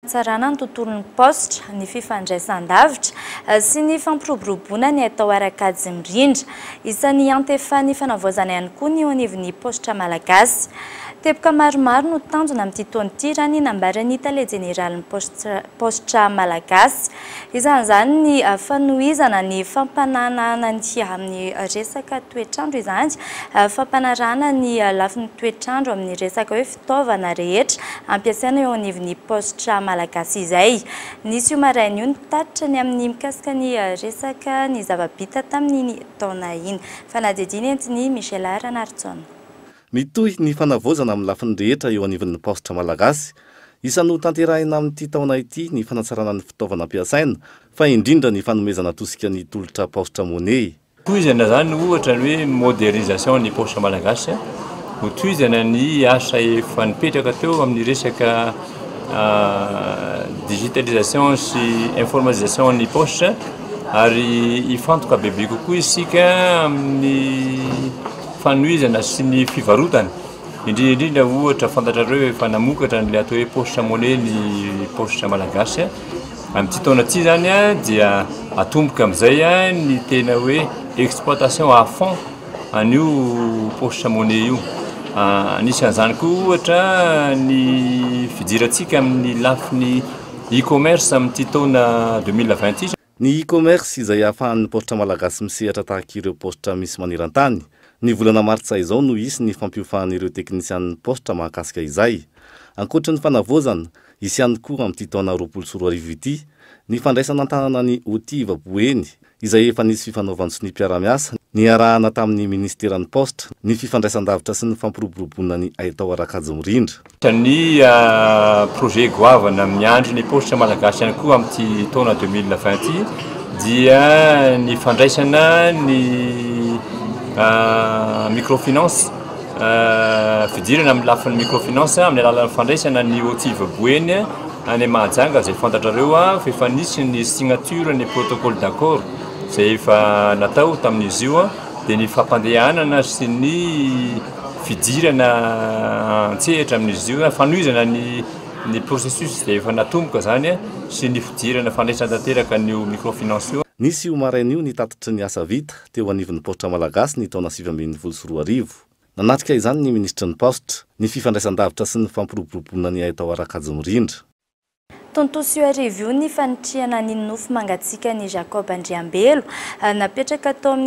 fanatsarana ny tontolon'ny paositra, ny fifandraisan-davitra sy ny fampiroboroboana ny atao ara-kajy mirindra. Isan'ny antefan'ny fanavaozana ihany koa ny eo anivon'ny paositra malagasy. Teboka maromaro no tanjona amin'ity taona ity raha ny nambaran'ny tale jeneralin'ny paositra malagasy. Isan'izany ny fanohizana ny fampananahana ny amin'ny resaka toetr'andro izany, fampanarahana ny lafiny toetr'andro amin'ny resaka hoe fitaovana rehetra ampiasaina eo anivon'ny paositra malagasy izay. Nisy io maraina io ny mpitatitra ny amin'ny mikasika ny resaka ny zava-bita tamin'iny taona iny. Fanadihadiana entin'i Michel Ranarison. Mitohy ny fanavaozana amin'ny lafiny rehetra eo anivon'ny paositra malagasy. Isan'ny ho tanterahina amin'ity taona ity ny fanatsarana ny fitaovana ampiasaina fa indrindra ny fanomezana tosika ny tolotra paositra Money. Tohizana izany ohatra ny hoe modernisation ny paositra malagasy, ho tohizana ny asa efa nipetraka teo amin'ny resaka digitalisation sy informatisation ny paositra ary hifantoka bebe kokoa isika amin'ny fanohizana sy ny fivarotana, indrindra indrindra ohatra fantatrareo efa namokatra an'ilay atao hoe paositra money ny paositra malagasy. Amin'ity taona ity izany dia atomboka amin'izay ny tena hoe exploitation à fond an'io poche monnaie io. Anisan'izany koa ohatra ny fidirantsika amin'ny lafiny e-commerce amin'ity taona deux mille vingt ity. Ny e-commerce izay ahafahan'ny paositra malagasy misehatra tahaka ireo paositra misy maneran-tany. Ny volana martsa izao no hisy ny fampiofan'ireo teknisianin'ny paositra mahakasika izay. Ankoatry ny fanavaozana, Hisy ihany koa amin'ity taona roapolo sy roa arivo ity ny fandraisana an-tanana ny OTIVA Boeny izay efa nisy fifanaovan-tsonia mpiara-miasa niarahana tamin'ny minisiteran'ny Paositra, ny fifandraisan-davitra sy ny fampiroboroboana ny haitao ara-kajimorindra. Tania, Projet goavana miandry ny Paositra malagasy ihany koa amin'ity taona deux mille vingt ity dia ny fandraisana ny microfinance. fidirana amin'ny lafiny microfinance amin'ny alalan'ny fandraisana ny OTIV Boeny any Mahajanga izay fantatrareo fa efa nisy ny signature ny protocole d'accord izay efa natao tamin'izy io dia ny fampandehanana sy ny fidirana an-tsehatra amin'izy io na fanohizana ny ny processus izay efa natomboka izany sy ny fidirana fandraisana tanteraka an'io microfinance io. Nisy io maraina io ny tatitry ny asa vita teo anivon'ny Paositra Malagasy ny taona sivy ambin'ny folo sy roa arivo. Nanatrika izany ny Minisitry ny Paositra, ny Fifandraisandavitra sy ny Fampiroboroboana ny Haitao Rakajimirindra. Tontosa io hariva io ny fanitrihana ny nofy mangatsiakan'i Jacob Andriambelo, napetraka tao amin'ny.